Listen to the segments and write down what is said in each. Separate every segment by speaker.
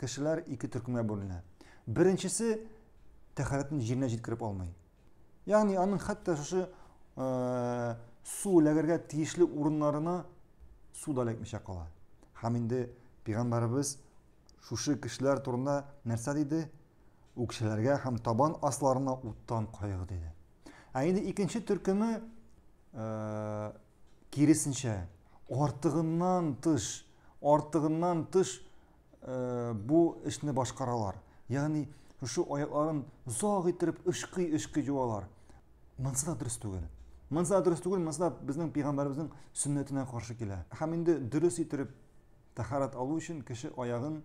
Speaker 1: кешеләр ике төркемгә бүленә. Беренчесе тәхәрәтен җиренә җиткереп алмый. Ягъни аның хәтта шушы э, су ләгәргә тиешле урыннарына су да эләкмичә кала. Һәм инде пигамбарыбыз шушы кешеләр турында нәрсә диде? Үкшеләргә һәм табан асларына уттан кайгы диде. Ә инде икенче төркеме э, киресенчә артыгыннан тыш, артыгыннан тыш э, бу эшне башкаралар. Ягъни шушы аякларын озак иттереп ышкый-ышкый юалар. Монсы да дөрес түгел. Монсы да дөрес түгел, монсы да безнең пәйгамбәребезнең сөннәтенә каршы килә. Һәм инде дөрес иттереп тәһарәт алу өчен кеше аягын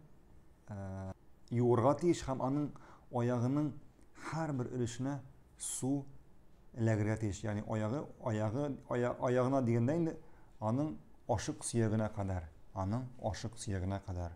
Speaker 1: э, юырга тиеш һәм аның аягының һәрбер өлешенә су эләгергә тиеш. Ягъни аягы, аягы, ая, аягына дигәндә инде аның ашык сөягенә кадәр, аның ашык сөягенә кадәр.